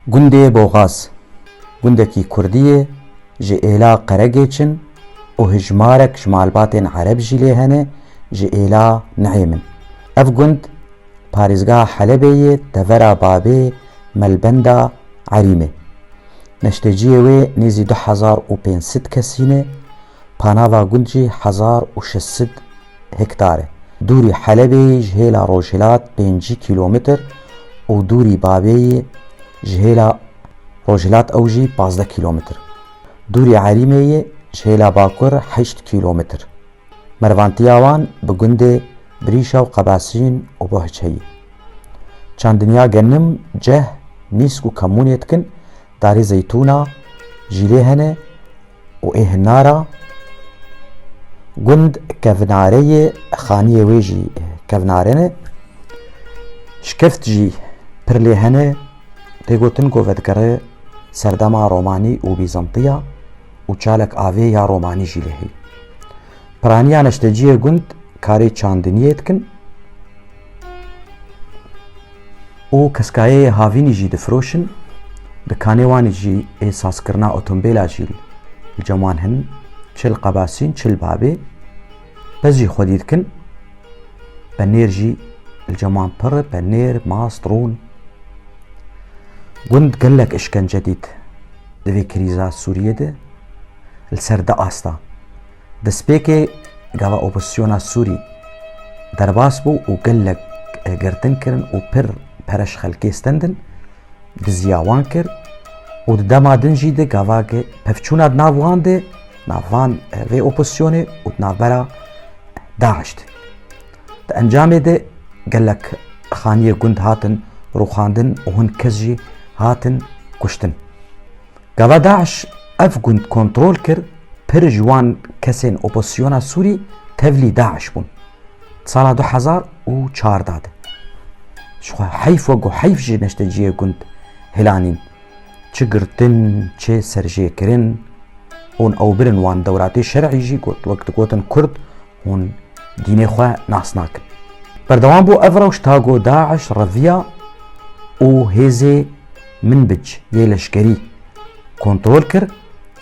Gundê Boxaz, gundekî kurdî ye ji êla Qeregêç in û hijmarek ji malbatên ereb jî lê hene ji êla Niêm in. Ev gund parêzgeha Helebê yê tevera bavê Melbenda Erîmê. Neşteciyê wê nêzî du hezar û pênc sed kesî ne. Panava gund jî hezar û şeş sed hektar e. Dûrî Helebê yê ji hêla rojhilat pêncî kîlometr û dûrî Babê yê ji hêla rojhilat ew jî pazdeh kîlometr. Dûrî Erîmê yê ji hêla bakur heşt kîlometr. Mervantiya wan bi gundê Birîşa û Qebasîn û Bohçe yê. Çandinya genim, ceh, mîsk û kemûnê dikin, darê zeytûna jî lê hene, Û ê hinara gund kevnareyê xaniyê wê jî kevnare ne. Şikeft jî pir lê hene. Tê gotin ku vedigere serdema Romanî û Bîzantiya û çalek avê ya Romanî jî lê hê. Piraniya neşteciyê gund karê çandiniyê dikin. û keskayeyê havînî jî difiroşin, di kanê wanê jî ê sazkirina otombêla jî li cem wan hin, çi li qebasîn çi li babê, pez jî xwedî dikin, penêr jî li cem wan pir e, penêr, mast, rûn. Gund gelek îşkence dît di vê krîza Sûriyê de li ser du asta. Destpêkê gava opozîsyona Sûrî derbas bû û gelek girtin kirin û pir pere ji xelkê stendin, diziya wan kir û di dema din jî di gava ki pevçûna di nav wan de nav van vê opozîsyonê û di navbera DAIŞ de. Di encamê de gelek xaniyê gund hatin rûxandin û hin kes jî hatin kuştin. Gava DAIŞ ev gund kontrol kir, pir ji wan kesên opozisyona Sûrî tevlî DAIŞ bûn. Di sala du hezar û çardeh de jixwe heyf we ku heyf ji neşteciyê gund hilanîn. Çi girtin, çi serjêkirin, hûn ew birin wan dewratê şer'î jî got wek digotin kurd hûn dînê xwe nas nakin. Berdewam bû ev rewş ta ku DAIŞ reviya û hêzê Minbic yê leşkerî kontrol kir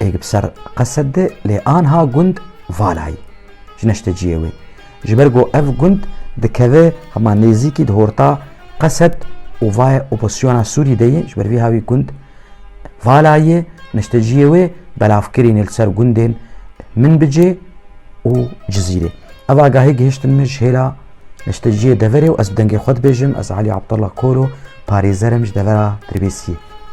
ê bi ser qesed de lê anha gund Valayî ji neşteciyê wê ji ber ku ev gund dikeve hema nêzîkî di horta qesed û vaye oposyona Sûrî de yê ji ber vî ha wî gund Valayê neşteciyê wê belavkirîn ê li ser gundên Minbicê û Cizîrê. Ev agahî gihiştin min ji hêla Ji te ciyê deverê û ez bi dengê xwe dibêjim, ez Elî Abdullah Koro, parêzer im ji devera Dirbêsiyê.